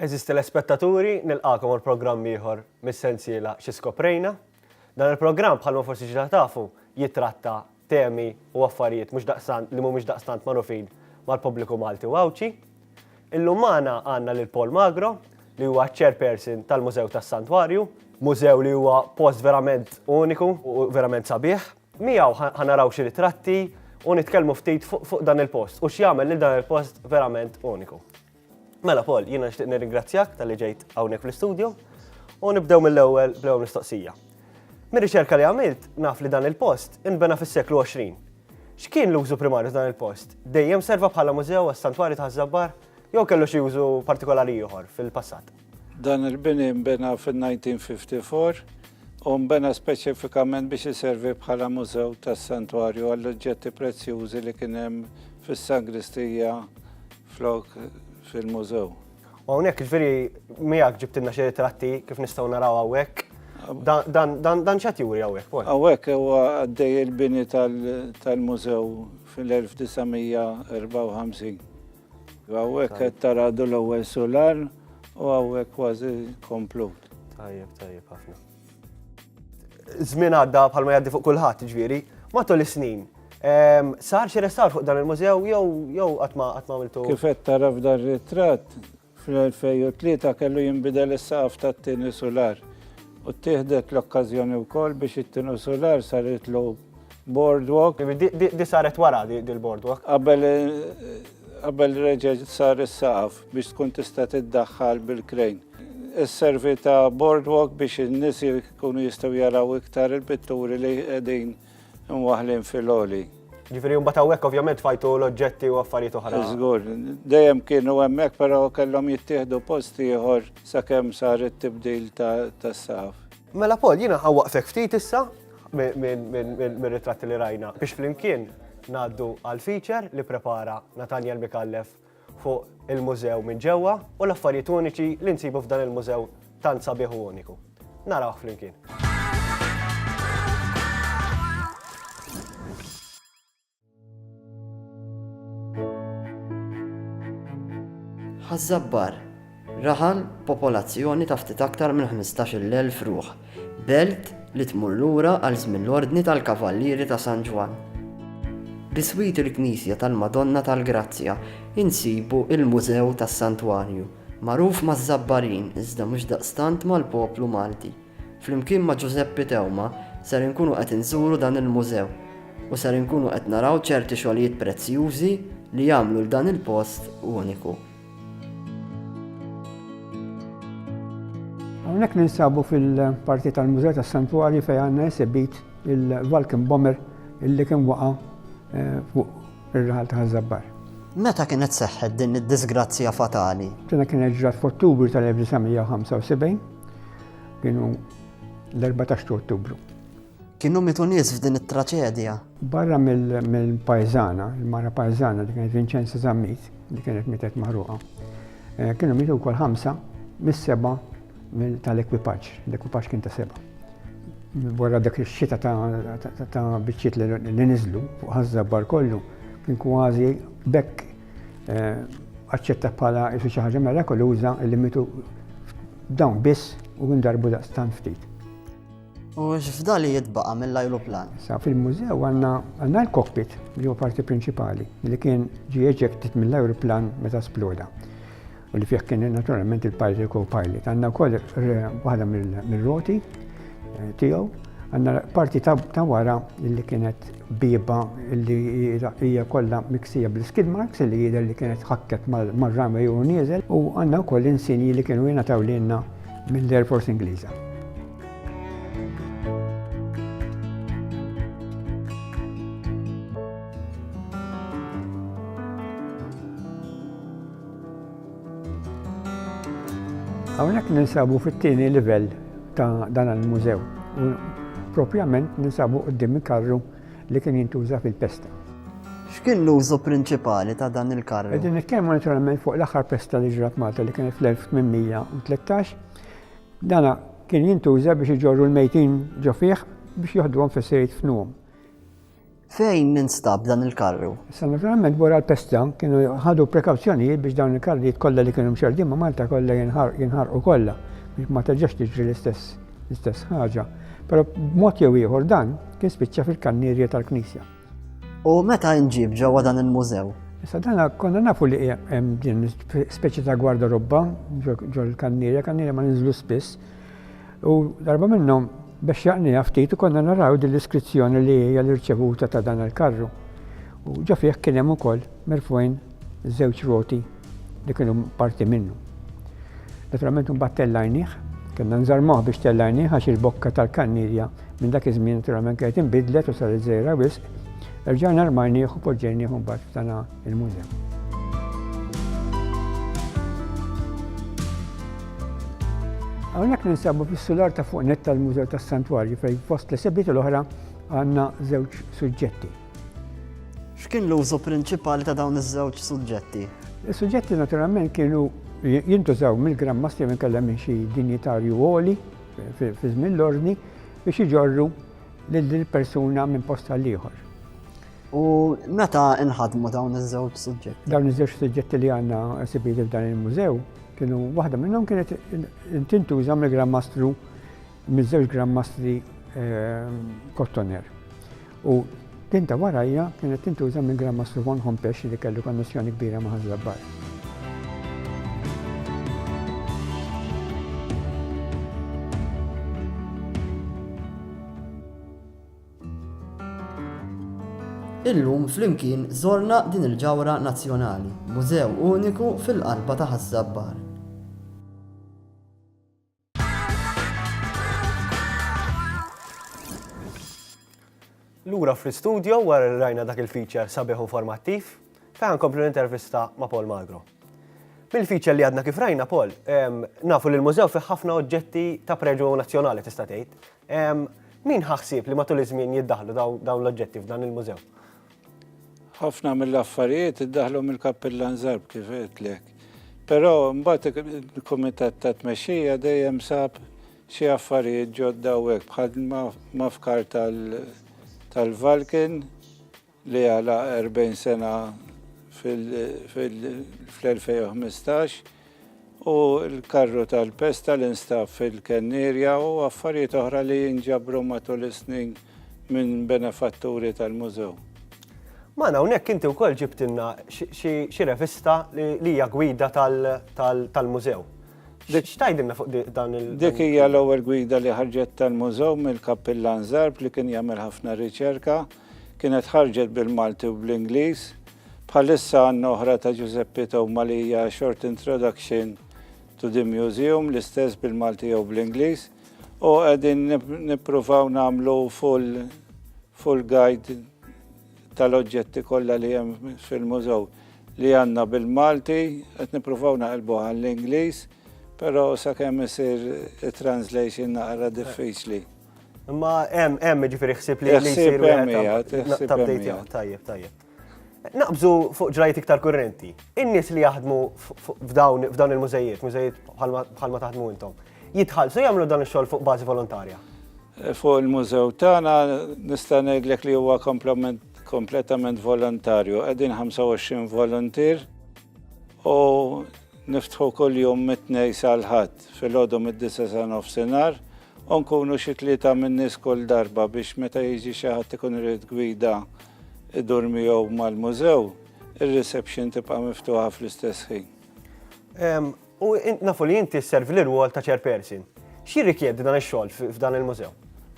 Għeżież telespettaturi, nilqagħkom għal programm ieħor mis-sensiela Xi Skoprejna. Dan il-programm, bħalma forsi ġa tafu, jittratta temi u affarijiet mhux daqstant li mhumiex daqstant magħrufin mal-pubbliku Malti u Għawdxi. Illum magħna għandna lil Paul Magro, li huwa ċ-Chairperson tal-Mużew tas-Santwarju, mużew li huwa post verament uniku u verament sabiħ. Miegħu ħa naraw xi ritratti u nitkellmu ftit fuq dan il-post u x'jagħmel lil dan il-post verament uniku. Mela Paul, jiena nixtieq nirringrazzjak talli ġejt hawnhekk fl-istudju u nibdew mill-ewwel bl-ewwel mistoqsija. Mir-riċerka li għamilt, naf li dan il-post inbena fis-seklu 20. X'kien l-użu primarju dan il-post? Dejjem serva bħala mużew għas-Santwarju ta' Ħaż-Żabbar jew kellu xi użu partikolari ieħor fil-passat? Dan il-bini nbena fin-1954 u nbena speċifikament biex iservi bħala mużew tas-Santwarju għall-oġġetti prezzjużi li kien hemm fis-Sangristija flok fil-mużew. U hawnhekk ġifieri miegħek ġibtilna xi ritratti kif nistgħu naraw hawnhekk. Dan x'qed juri hawnhekk? Hawnhekk huwa għaddej il-bini tal-mużew fil-1954. Hawnhekk qed tara l-ewwel sular u hawnhekk kważi komplut. Tajjeb, tajjeb ħafna. Żmien għadda bħalma jgħaddi fuq kulħadd, ġifieri, matul is-snin. Ehm, sar xi restawr fuq dan il-mużew jew jew qatt ma qatt ma għamiltu. Kif qed tara f'dan ritratt fl-2003 kellu jinbidel is-saqaf tat-tieni sular. U tieħdet l-okkażjoni wkoll biex it-tieni sular saritlu boardwalk. Di saret wara dil-boardwalk. Qabel eh, Qabel reġa' sar is-saqaf biex tkun tista' tiddaħħal bil-krejn. Isservi ta' boardwalk biex in-nies jkunu jistgħu jaraw iktar il-pitturi li qegħdin imwaħħlin fil-għoli. Ġifieri mbagħad hawnhekk ovvjament tfajtu l-oġġetti u affarijiet oħra. Żgur, dejjem kienu hemmhekk però kellhom jittieħdu post ieħor sakemm sar it-tibdil tas-saqaf. Mela Paul, jiena ħawwaqfek ftit issa mir-ritratti li rajna biex flimkien ngħaddu għal feature li prepara Nathaniel Mikallef fuq il-mużew minn ġewwa u l-affarijiet uniċi li nsibu f'dan il-mużew tant sabiħ u uniku. Narawh flimkien. Ħaż-Żabbar, raħal b'popolazzjoni ta' ftit aktar minn 15,000 ruħ, belt li tmur lura għal żmien l-Ordni tal-Kavallieri ta' San Ġwann. Biswit il-knisja tal-Madonna tal-Grazzja insibu l-Mużew tas-Santwarju, magħruf maż-Żabbarin iżda mhux daqstant mal-poplu Malti. Flimkien ma' Ġużeppi Teuma ser inkunu qed inżuru dan il-mużew u ser inkunu qed naraw ċerti xogħlijiet prezzjużi li jagħmlu 'l dan il-post uniku. Hawnhekk ninsabu fil-parti tal-Mużew tas-Santwarji fejn għandna esibit il-Vulcan Bomber illi kien waqa' fuq ir-raħal ta' Ħaż-Żabbar. Meta kienet seħħet din id-diżgrazzja fatali? Dina kienet ġrat f'Ottubru tal-1975 Kienu l-14 ta' Ottubru. Kienu mitu nies f'din it-traċedja. Barra mill-pajzana, il-mara pajzana li kienet Vincenza Zammit, li kienet mitet maħruqa, eh, kienu mitu wkoll ħamsa mis-seba tal-ekwipaġġ, l-ekwipaġġ kien ta' seba. Wara dak ix-xita ta' biċċiet li niżlu fuq ħażżabbar kollu, kien kważi bekk Eh, aċċetta bħala isu xi ħaġa mirakoluża li mitu dawn biss u ndarbu daqstan ftit. U x'fda li jitbaqa' mill-ajruplan? Sa fil-mużew għandna għandna l-cockpit li huwa parti prinċipali li kien ġie eġektit mill-ajruplan meta sploda. u li fih kien naturalment il-pilot co-pilot. Għandna wkoll waħda mill-roti eh, tiegħu, għandna parti ta' wara li kienet biba li hija kollha miksija bl-skid marks li jidher li kienet ħakket mar-runway u nieżel u għandna wkoll insinji li kienu jingħataw lilna mill-Air Force Ingliża. Hawnhekk ninsabu fit-tieni livell ta' dan il-mużew u propjament ninsabu quddiem il-karru li kien jintuża fil-pesta. X'kien l-użu prinċipali ta' dan il-karru? Qegħdin nitkellmu naturalment fuq l-aħħar pesta li ġrat Malta li kienet fl-1813. Dana kien jintuża biex iġorru l-mejtin ġo fih biex joħduhom fis-sejt f'nuhom. Fejn instab dan il-karru? Issa naturalment wara l-pesta kienu ħadu prekawzjonijiet biex dawn il-karrijiet kollha li kienu mxerrdin ma' Malta kollha jinħarqu kollha biex ma terġax tiġri l-istess l-istess ħaġa. Però b'mod jew ieħor dan kien spiċċa fil-kannierja tal-Knisja. U meta inġib ġewwa dan il-mużew? Issa dana konna nafu li hemm din speċi ta' gwarda robba ġol kannierja, kannierja ma ninżlu spiss, U darba minnhom biex jaqniha ftit konna naraw din l-iskrizzjoni li hija l-irċevuta ta' dan il-karru. U ġo fih kien hemm ukoll merfwejn żewġ roti li kienu parti minnu. Naturalment imbagħad tellajnih, kellna nżarmuh biex tellajnih għax il-bokka tal-kannirja minn dak iż-żmien naturalment kienet inbidlet u saret żgħira wisq. Erġajna rmajnieh u poġġejnieh imbagħad f'dana il-mużew. Hawnhekk ninsabu fis-sular ta' fuq net tal-Mużew tas-Santwarju fejn fost li sebiet l-oħra għandna żewġ suġġetti. X'kien l-użu prinċipali ta' dawn iż-żewġ suġġetti? Is-suġġetti naturalment kienu jintużaw mill-Gran Masti minn kellha minn xi dinjitarju għoli fi żmien l-ordni biex iġorru lill-persuna minn posta l-ieħor. U meta inħadmu dawn iż-żewġ suġġetti? Dawn iż-żewġ suġġetti li għandna esibiti f'dan il-mużew kienu waħda minnhom kienet tintuża mill-Gran Mastru miż-żewġ Gran Mastri Kottoner. Eh, u din ta' warajja kienet tintuża minn Gran Mastru Von Hompex li kellu konnessjoni kbira ma' Ħażlabbar. Illum flimkien żorna din il-ġawhra nazzjonali, mużew uniku fil-qalba ta' Ħaż-Żabbar. Lura fl-istudio wara li rajna dak il-feature sabiħ u informattiv, fejn nkomplu l-intervista ma' Paul Magro. Mill-feature li għadna kif rajna Paul, nafu li l-mużew fih ħafna oġġetti ta' preġu nazzjonali tista' tgħid. Min ħa ħsieb li matul iż-żmien jiddaħħlu dawn l-oġġetti f'dan il-mużew? Ħafna mill-affarijiet iddaħħlu mill-Kappillan Zarb kif għedtlek. Però mbagħad il-Kumitat ta' Tmexxija dejjem sab xi affarijiet ġodda u hekk bħal ma fkar tal-Valkin. li għala 40 sena fl-2015 u l-karru tal-pesta li nstab fil-Kennierja u affarijiet oħra li nġabru matul is-snin minn benefatturi tal-Mużew. Magħna hawnhekk inti wkoll ġibtilna xi revista li hija gwida tal-Mużew. X'tgħidilna fuq dan il-? Dik hija l-ewwel gwida li ħarġet tal-Mużew mill-Kappillan Zarb li kien jagħmel ħafna riċerka. Kienet ħarġet bil-Malti u bl-Ingliż. Bħalissa għandna oħra ta' Ġużeppi Toma li hija A Short Introduction to the Museum, l-istess bil-Malti jew bl-Ingliż, u qegħdin nippruvaw nagħmlu full, full guide tal-oġġetti kollha li hemm fil-mużew li għandna bil-Malti, qed nippruvaw naqilbu għall-Ingliż, però sakemm isir it-translation naqra diffiċli. Imma hemm hemm ġifieri ħsieb li jsir wieħed tabdejt tajjeb tajjeb. Naqbżu fuq ġrajt iktar kurrenti. In-nies li jaħdmu f'dawn il-mużejiet, mużejiet bħalma taħdmu intom, jitħallsu jagħmlu dan ix-xogħol fuq bażi volontarja. Eh, fuq il-mużew tagħna nista' ngħidlek li huwa kompletament volontarju. Qegħdin 25 voluntier U niftħu kuljum mit-tnej sal-ħadd filgħodu mid-disa sa nofsinhar u nkunu xi tlieta min-nies kull darba biex meta jiġi xi ħadd ikun irid gwida idur miegħu mal-mużew, ir-reception tibqa' miftuħa fl-istess ħin. U nafu li inti sservi l-irwol ta' Chairperson. X'jirrikjedi dan ix-xogħol f'dan il-mużew?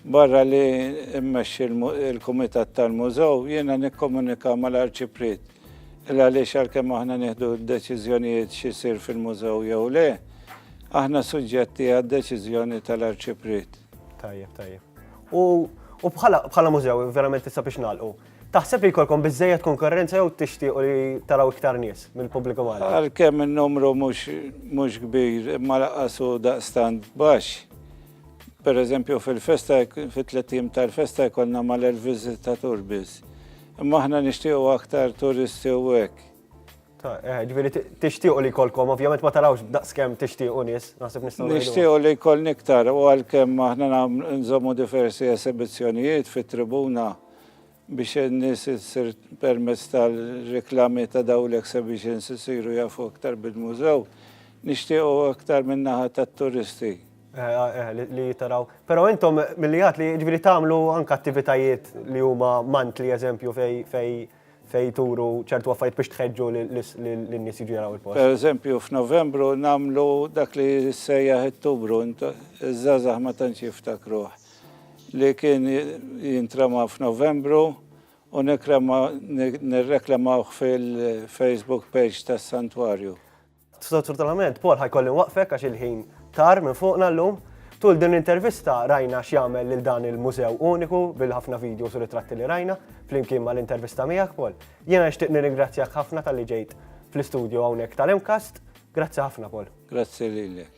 Barra li mmexxi l-kumitat tal-mużew, jiena nikkomunika mal-Arċipriet. Il għaliex għalkemm aħna nieħdu d-deċiżjonijiet x'isir fil-mużew jew le, aħna suġġetti għad-deċiżjoni tal-Arċipriet. Tajjeb, tajjeb. U bħala mużew, verament issa biex nagħlqu, Taħseb li jkollkom biżżejjed konkurrenza jew tixtiequ li taraw iktar nies mill-pubbliku Malti? Għalkemm in-numru mhux kbir imma lanqas hu daqstant baxx. Pereżempju fil-festa, fit-tliet ijiem tal-festa jkollna mal-elf viżitatur biss. Imma aħna nixtiequ aktar turisti u hekk. Eh, ġifieri tixtiequ li jkollkom, ovvjament ma tarawx daqskemm tixtiequ nies, naħseb nistgħu. Nixtiequ li jkollni iktar u għalkemm aħna nżommu diversi esibizzjonijiet fit-tribuna biex in-nies issir permezz tal-reklami ta' dawn l-exhibitions isiru jafu aktar bil-mużew, nixtiequ aktar min-naħa tat-turisti. Eh, eh, li jitaraw. Pero intom mill-li għat li ġviri tamlu anka attivitajiet li huma mant li eżempju fej fej fej turu ċertu għaffajt biex tħedġu l-nis jiġu jaraw il-post. Per eżempju, f'Novembru namlu dak li sejjaħ it-tubru, iż-żazax ma tantx jiftakruħ. li kien jintrema f'Novembru u nirreklamawh fil-Facebook page tas-Santwarju. Sfortunatament, Paul ħa jkolli nwaqfek għax il-ħin tar minn fuqna llum. Tul din l-intervista rajna x'jagħmel lil dan il-mużew uniku bil-ħafna videos u ritratti li rajna flimkien mal-intervista miegħek, Paul. Jiena nixtieq nirringrazzjak ħafna talli ġejt fl-istudju hawnhekk tal-MCAST. Grazzi ħafna, Paul. Grazzi lilek.